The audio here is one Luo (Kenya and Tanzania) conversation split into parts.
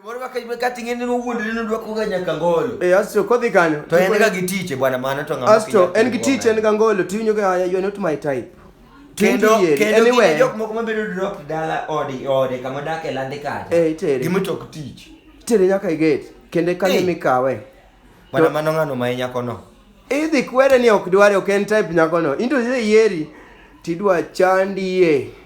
Moro waka ibe kati ngene no wuonde no dwa kuga nyaka ngolo. Eh asto kodhi kanyo. To en ga gitiche bwana mano to ngama. Asto en gitiche en ga ngolo to inyo ga you not my type. Kendo kendo anyway. jok moko mabedo drop dala odi ode kama dak e lande kaje. Eh itere. Gimo to tich. Itere nyaka i gate. Kende kanyo mikawe. Bwana mano ngano ma nyako no. Idhi kwere ni ok dware ok en type nyako no. Into yieri tidwa chandie.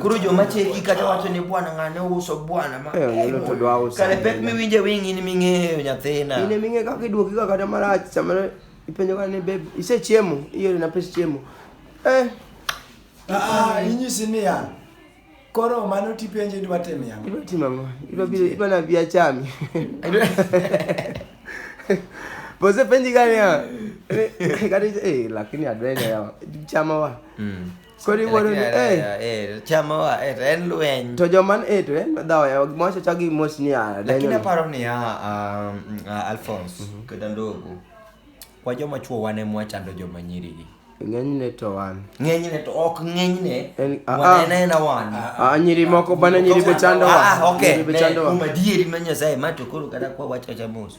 Koro joma cheki kata wacho ni bwana ng'ane uso bwana ma. Eh, Kare pek miwinje wing in ming'eyo nyathina. In ming'eyo kaka iduoki ga kata marach sama ipenjo ka ni babe ise chiemo iore na pes chiemo. Eh. Ah, ah inyisi ni ya. Koro mano tipenje idwa timo yango. Idwa timo yango. Idwa bi idwa na bi achami. Bose penji gani ya. Eh, eh, eh, lakini adwenya ya. Chama wa. Mm. Koro iwuoro ni, Lakini eh. aneno, eh, chama wa, eh, to en lweny To joman e to en dhawo ya gimocho chagi mos ni a. lakini aparo niya um, uh, alphonse kata ndogo kwa joma chuo wan ema wachando joma nyirigi Ng'enyne to wan. ng'enyne to ok ng'enyne En- ah, ah. wanenena wan Ah, nyiri moko bana nyiri be chando wa. Ah, ah, okay. Nyiri be Ne, chando wa. kuom adieri ma nyasaye ma to koro kata kwa wachacha mos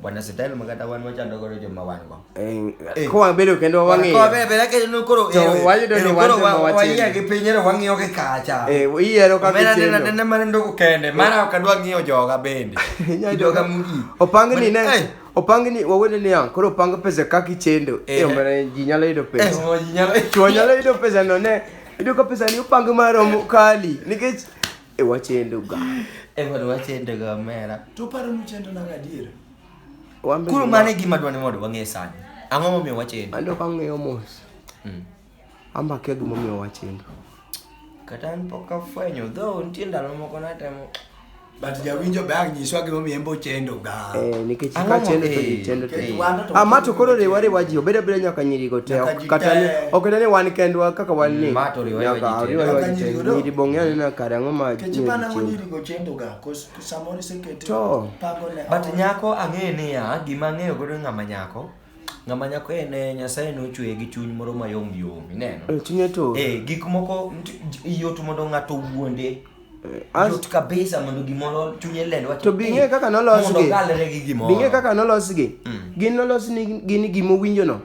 Bwana Sitail makata wan wachando godo joma wan go. Eh, eh. kwa bedo kendo wang'iyo. Kwa bedo bela kendo koro. To eh, wayudo ni wan joma wachendo. Wayie gi piny ero wang'iyo gi kacha. Eh, iyiero kaka chendo. Mena nena mana ndoko kende. Mara ok adwa ng'iyo joga bende. Joga mugi. Opang ni ne. Opang ni wawene ni an koro opang pesa kaka ichendo. Eh, mara ji nyalo yudo pesa. Eh, ji nyalo. Chwo nyalo yudo pesa no ne. Ido ka pesa ni opang maromo kali. Nikech E wachendo ga. E wad wachendo ga mera. To paro ni chendo na gadier. Wambe. Kuro mane gima dwani mondo wang'e sani. Ang'o momiyo wachendo? Ando ka ng'eyo mos. Mm. Amba kia gima omiyo wachendo. Kata an pok afwenyo, dho nitie ndalo moko natemo. But jawinjo be ang' nyiswa gima omiyo embo chendo ga. Ah. Eh, nikech ka chendo to ji chendo to ama ah, to koro riwa riwa ji obeda beda nyaka nyiri go te kata ni ok ne wan kendwa kaka wan ni ma to riwa riwa ji riwa ji te nyiri bonge ne na kare ngo ma kechi pana ngo nyiri go chendo ga cause samori se kete to but nyako ange ni ya gima angeyo godo ngama nyako ng'ama nyako en eh, nyasaye nochweye gi chuny moro mayom yom ineno eh, chunye to eh gik moko yot mondo ng'ato wuonde eh, yot kabisa mondo gimoro chunye lend wach to bing'e kaka nolosgi bing'e kaka nolosgi mm. gin nolos ni gin gimowinjono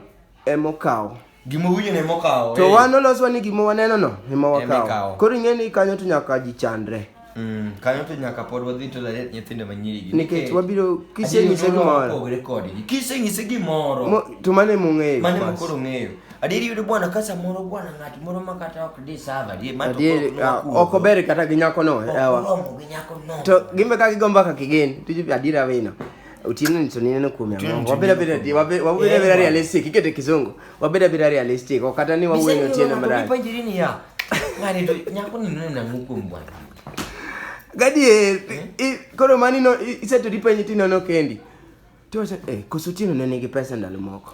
emokawo Gima winyo ne mokawo. To wan oloswa ni gima waneno no ema wakawo. Koro ing'e ni kanyo to nyaka ji chandre. Mm, kanyo to nyaka pod wadhi to lalet nyithindo manyiri nikech wabiro kisenyise gimoro pogre kodgi kisenyise gimoro to mane mong'eyo mane mokoro ng'eyo adieri yudo bwana ka samoro bwana ng'at moro ma kata ok di sava adieri ma ah, ok ober kata gi nyako no yawa to gimbe ka gigomba ka kigen to adieri awino Otieno ni to nineno kuom Otieno yang'o. to Wabedo nineno abeda kuom- di- wabe- wabedo Eh, abeda bwana. realistic, ikete kizungu. Wabedo abeda realistic, ok kata ni wawuoyo ni Otieno marach. Nipanjiri niya. Ng'ani to nyako ni neno nang'o kuom bwana. Gadier, i- koro mani no i- iseto dipenji tinono kendi. Tiwacho, eh, koso Otieno ne nigi pesa ndalo moko.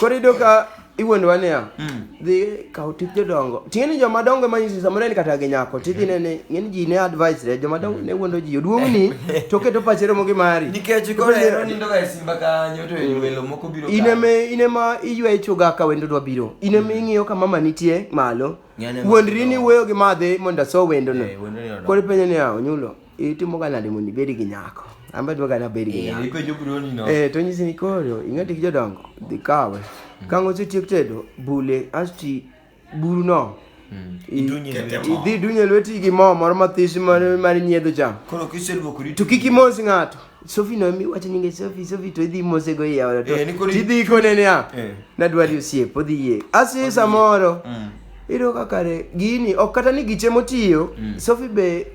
Koro iyudo ka iwuondowa niya, dhi kaw tip jodongo. Ting'e ni joma dongo ema nyisi samoro en kata gi nyako. Tidhi ne ni ng'eny ji ne advice re joma dongo ne wuondo ji. Oduong'ni to keto pache romo gi mari. Nikech koro ero nindo ga e simba kanyo to welo moko biro In ema in ema iywayo chuga ka wendo dwa biro. In ema ing'iyo ka mama nitie malo. Ng'eny ema Wuondri ni wuoyo gi madhe mondo aso wendono. Eh, wendo ni odongo. Koro ipenjo niya, onyulo. itimoga nade mondo ibed gi nyako an be adwaga nabed gi Eh, nyako ipenjo broni no. Eh, to nyisi ni koro ing'e tik jodongo dhi kawe kang' osetiek tedo bule asti buruno Mm. i- Idunye Kete lweti. mo. idhi dunye lweti gi mo moro mathis mar mar nyiedho cham Koro kiseluokori to kik imos ng'ato sofi no mi wacho nyinge sofi sofi to idhi mose go iya ora to Eh, ni koro- tidhi kone niya Eh. nadwari osiep odhi yie asi samoro Mm. iyudo ka kare gini ok kata ni giche motiyo sofi be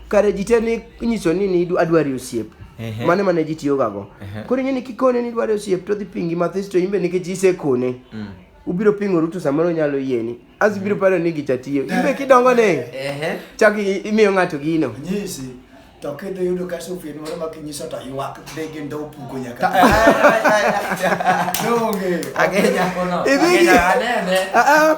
kare ji te ni inyiso ni ni adwari osiep Ehe. mane mane ji tiyoga go Ehe. koro ing'e ni kikone ni idwari osiep to odhi pingi mathis to imbe nikech isekone ubiro pingoru to samoro onyalo yieni as ibiro paro ni gicha tiyo imbe kidongo ne Ehe. chak i- imiyo ng'ato gino nyisi to kidhi yudo ka sufin moro ma kinyiso to ywak dhi gi ndo puko nyaka Donge. Agenya. Idhi gi- Agenya anene. Ah, ah,